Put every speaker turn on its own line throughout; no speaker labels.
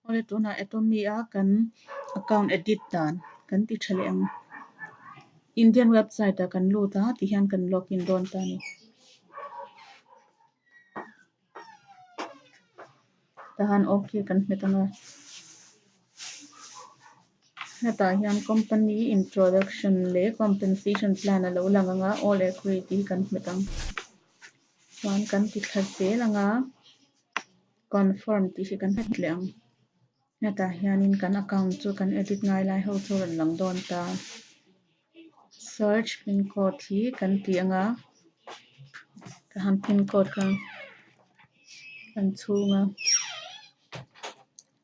Hawle tunah Atomy a kan account edit dan kan ti tha leh ang. Indian website ah kan lut a, tih hian kan log in dawn ta a ni. Tahan OK kan hmet ang a. Hetah hian company introduction leh compensation plan a lo lang ang a, all agree tih hi kan hmet ang. Chuan kan ti tha zel ang a. Confirm tih hi kan hmet leh ang. Hetah hianin kan account chu kan edit ngai lai ho chu a rawn lang dawn ta. Search pin code hi kan tih anga, ka han pin code kha kan chhung a.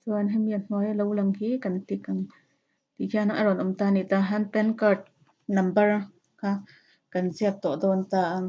Chuan hemi a hnuaia lo lang hi kan tik ang. Tih hian a rawn awm ta ni ta hian pan card number kha kan ziak tawh dawn ta ang.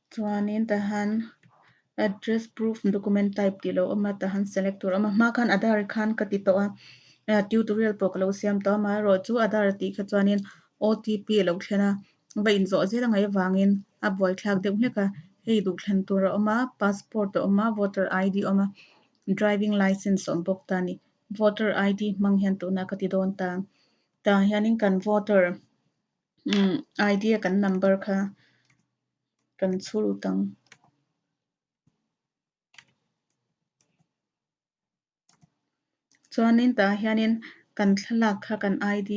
Chuanin tah hian Address Proof Document Type tih lo awm a, tah hian Select tur a awm a. Hma khan Aadhar khan ka ti tawh a, Tutorial pawh ka lo siam tawh a, mah erawh chu Aadhar tih kha chuanin OTP a lo thlen a, va inzawh zel angai avangin a buaithlak deuh hlek a. Hei duhthlen tur a awm a, Passport a awm a, Voter ID a awm a, Driving Licence a awm bawk ta ni. Voter ID hmang hian tunah ka ti dawn ta, tah hianin kan Voter. umm idea kan number kha kan chhur lut ang. Chuanin tah hianin kan thlalak kha kan ID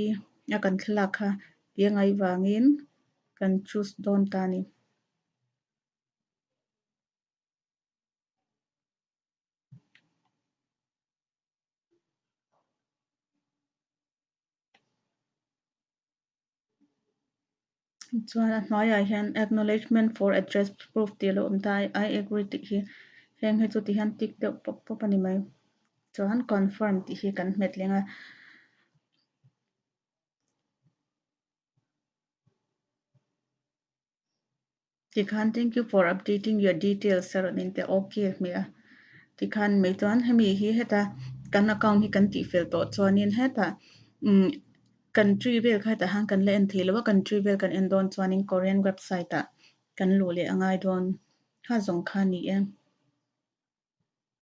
a kan thlalak kha tia ngai vangin kan choose dawn ta a ni. chuan a hnuaiah hian acknowledgement for address proof tih a lo awm ta i agree tih hi heng hi chuti hian tick deuh pawp pawp a ni mai chuan confirm tih hi kan hmetleng a tikhan thank you for updating your details sir min te ok hme a tikhan mai chuan hemi hi heta kan account hi kan tih fel tawh chuanin heta umm country vel kha hetah hian kan la en theilo a country vel kan en dawn chuanin korean website ah kan luh leh a ngai dawn ha zawng kha ni e.